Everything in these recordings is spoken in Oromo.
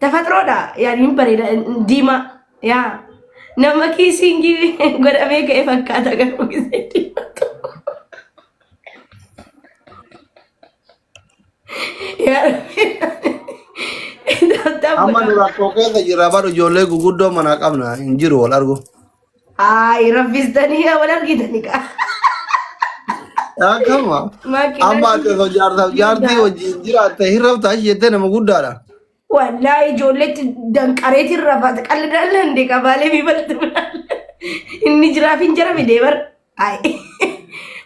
Tafaxiroodha yaani hin bareeda diimaa yaa nama kiisiingii godhamee ka'e fakkaata garuu gisee diimaa tokko. Yaa Rabbi. Amma nu rakkoo keessa jirra bar ijoollee guguddoo manaa qabna hin jiru wal argu. Ay, rabbistanii yaa wal argitani kaa. Akkama. Makiinaa Amma ati osoo jaarsaaf jaartii wajjin jiraatte hin rafta achi jettee nama guddaadha. Wallahi ijoolleetti danqareetiin rafata qalli dalla hin deeqa baalee fi balta inni jiraaf hin jarame deebar. Ay,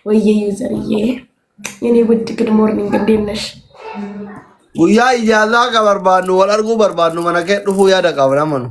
wayyee yuuzariyyee. Yanii gutti good morning deemnash. Guyyaa ijaazaa akka barbaannu wal arguu barbaannu mana kee dhufuu yaada qabna manu.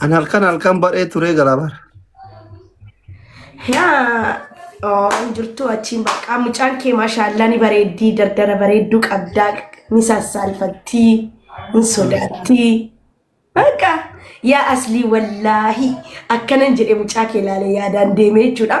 An halkan halkan baree turee galaa bara. Yaa oo hin jirtu achiin baqqaa mucaan kee maashaallaa ni bareeddii dardara bareedduu qabdaa ni sassaalfattii hin sodaattii. Baqa yaa aslii wallaahi akkanan jedhe mucaa kee laale yaadaan deemee jechuudha.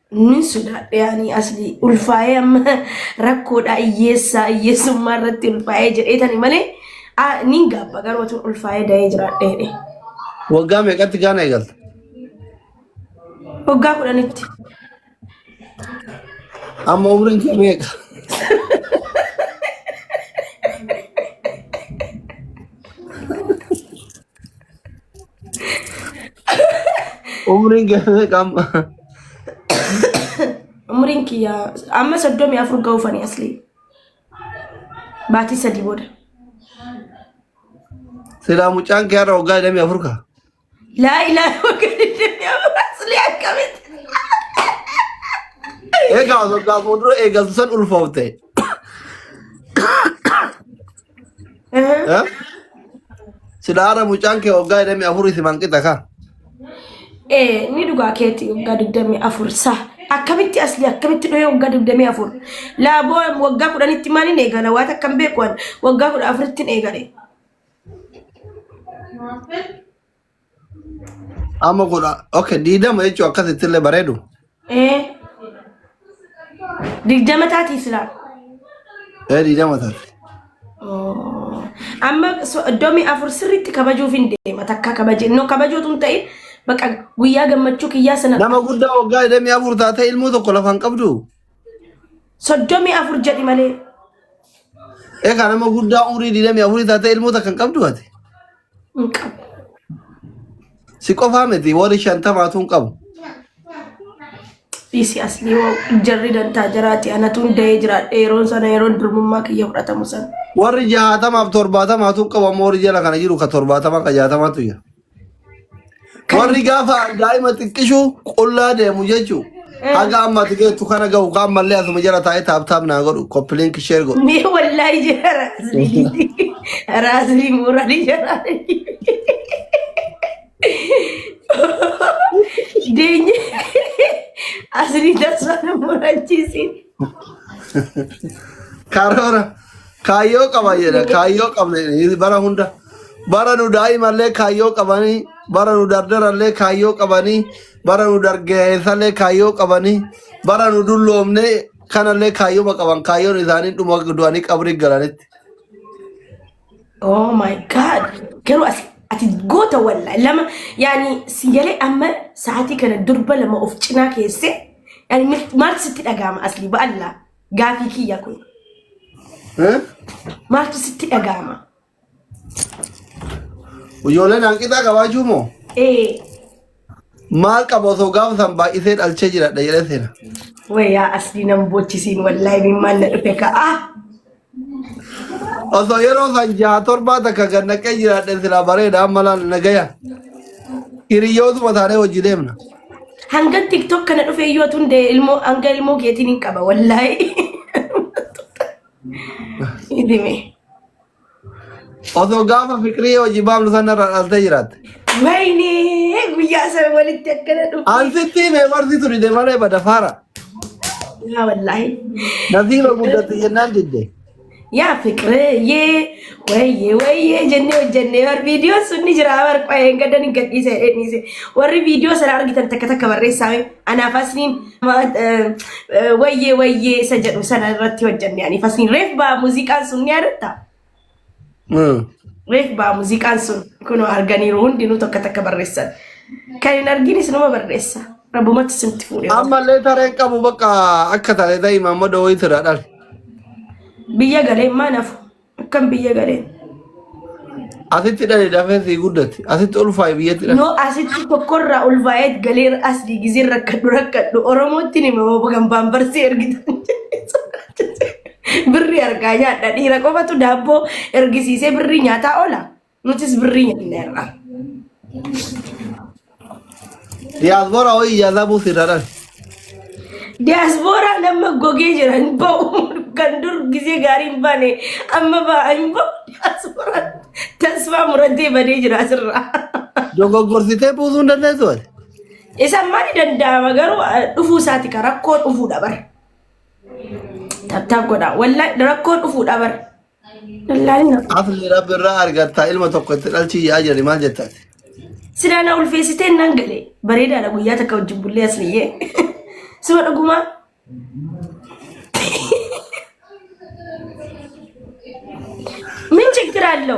Nin sodaadhe ani asli ulfaa'ee amma rakkoodha hiyyeessaa hiyyeessummaa irratti ulfaa'ee jedhee tani malee ah, nin gaabba garuu otoo ulfaa'ee da'ee jiraadhe jedhe. Waggaa meeqatti gaana eegalta? Waggaa kudhanitti. Amma umriin kee meeqa? Umriin kee qamma. Umriin kiyya amma soddomii afur ga'uufani aslii. Baatii sadii booda. Silaa mucaan kee har'a waggaa 24 ka. Laa ilaa waggaa digdamii afur aslii akkamitti. Egaa waggaa fuuldura eegaltu san ulfoofte. Eh? Silaara mucaan kee waggaa hidhamii afurii si manqixa kaa. Eh, ni dhugaa keetti waggaa digdamii afur sa akkamitti asli akkamitti dhohee waggaa digdamii afur laaboo waggaa kudhanitti maaliin eegala waan akkam beeku an waggaa kudha afuritti hin eegale Amma kudha okay diidama jechuun akkasitti illee bareedu. Ee digdama taatii silaa. Ee diidama taate. Oh. Amma so- iddoomii afur sirriitti kabajuuf hin deema takka kabaje no kabajuutu hin ta'in bakka guyyaa gammachuu kiyyaa sana Nama guddaa waggaa 24 taatee ilmoo tokko lafaan qabdu. soddomii afur jedhi malee Egaa nama guddaa umrii digdamii afurii taatee ilmoota kan qabdu ati. hin qabu. Si qofaa miti warri shantamaatu hin qabu. Dhiisi asli yoo jarri dantaa jiraate anatu hunda'ee jiraadhe yeroon sana yeroon durmummaa kiyya fudhatamu sana. Warri jaatamaaf torbaatamaatu hin qabu amma warri jala kana jiru ka torbaatamaa ka jaatamaatu jira. Kan Warri gaafa daa'ima xiqqishu qullaa deemu jechuun eh, haga amma ati geettu kana gahu kaan mallee asuma jala taa'ee taaptaap naa godhu koppiliin kishee godhu. mee wallaahi jira raasni dhiisi. Raasni murani jira. Deenye asni tasaan murachiisin. Karoora Kaayyoo qaban jedha. Kaayyoo qabna jedha. Bara hunda. Bara nu daa'imallee kaayyoo qabanii, bara nu dardarallee kaayyoo qabanii, bara nu dargaggeessallee kaayyoo qabanii, bara nu dulloomne kanallee kaayyooma qaban. Kaayyoon isaanii dhuma du'anii qabrii galanitti. Oh my god. Garuu asi ati goota walla lama yaani si galee amma sa'aatii kana durba lama of cinaa keessee yaani mil- maal sitti dhaga'ama asli ba'alla. Gaafii kiyya kun Eh? maaltu sitti dhaga'ama? Ijoolleen hanqinaa qabaachuu moo? Ee Maal qaba osoo gaafa san baay'isee dhalchee jiradha jedhee seena. wayyaa asli nan boochisiin wallaahi mimmaan na dhufe ka'a. Osoo yeroo san jaha torbaa takka gad naqee jiraadhe silaa bareeda amma laal nagaya. Hiriyootuma taanee hojii deemna. Hanga tiktok kana dhufe iyyuu otun de ilmoo hanga ilmoo keetiin hin qaba wallaahi. Idime. Osoo gaafa fikirii hojii baablu sana irraa dhaaltee jiraatte. Wayne guyyaa sana walitti akkana dhufe. Ansitti mee warri turi deemalee bada faara. Yaa wallaahi. Nasiiba guddatti jennaan didde. Yaa fiqreeyyee wayyee wayyee jennee hojjennee bar viidiyoon sun ni jira bar qo'ee hin gaddan hin gadhiise jedhee dhiise warri viidiyoo sana argitan takka takka barreessaa mee anaa fasniin wayyee wayyee isa jedhu sana irratti hojjenne ani fasniin reef baa muuziqaan sun ni yaadatta. Reef baa muuziqaan sun kunoo arganiiru hundinuu tokko takka barreessan. Kan hin arginis nama barreessa. Rabbumatti simti fuudhee. Ammallee tareen qabu bakka akka taate ta'e mamma dooyi tira dhal. Biyya galee maa nafu? Akkam biyya galee? Asitti dhali dafee sii guddatti. Asitti ulfaa'i biyyatti dhali. Yoo asitti tokkorraa ulfaa'eet galee as diigizee rakkadhu rakkadhu Oromootti nima hoo kan baambarsee ergitan. Birrii argaa nyaadha. Dhiira qofatu daabboo ergisiisee birrii nyaataa oola. Nutis birrii nyaanna irraa. Diyaasboora ho'i yaadabuu sirra dhan. Diyaasbooraa nama gogee jira hin ba'u. Kan dur gizee gaarii hin baane amma ba'a hin ba'u. Diyaasbooraa tasfaa muratee badee jira asirraa. Dogoggorsitee buusuu hin dandeessu ati. Isa maali danda'ama garuu eh, dhufuu isaati ka rakkoo dhufuudha bara. Tattaaf godhaa. Wallahi rakkoo dhufuudha bar. Wallahi rakkoo. Afni rabbi irraa argatta ilma tokko itti dhalchii yaa jedhe maal jettan? Silaa na ulfeessitee nan galee. Bareedaadha guyyaa takka wajjin bullee asliyyee. Suma dhugumaa. Min chiggiraallo.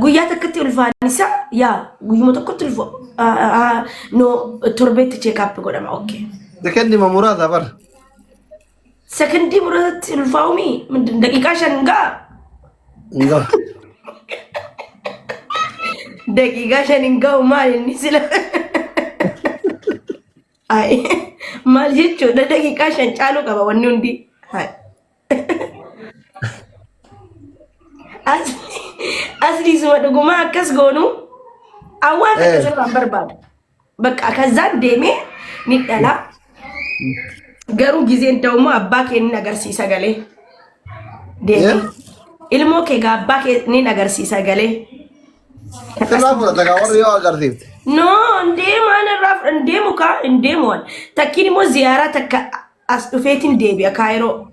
Guyyaa takkatti ulfaan isaa yaa guyyuma tokkotti ulfa no torbeetti cheekaappi godhama okkee. Sekendi ma muraasa bar. Sekondii muraasatti ulfaa'umi daqiiqaa shan gaa Nga. daqiiqaa shan hin ga'u maal inni sila. Ayi maal jechuudha daqiiqaa shan caaluu qaba wanni hundi. Ayi. As- Asli suma dhuguma akkas goonu awwaan Eh. akkas irraa hin barbaadu. Bakka kazzaan deemee ni dhala. Garuu gizeen ta'u immoo abbaa kee ni agarsiisa galee. Deemee. Yeah. Ilmoo kee gaa abbaa kee ni agarsiisa galee. Sirraa fudhata kaa warri yoo agarsiifte. No, hin deemaan irraa hin deemu kaa hin deemu waan. Takkiin immoo ziyaaraa takka As dhufeetin deebi'a Kaayiroo.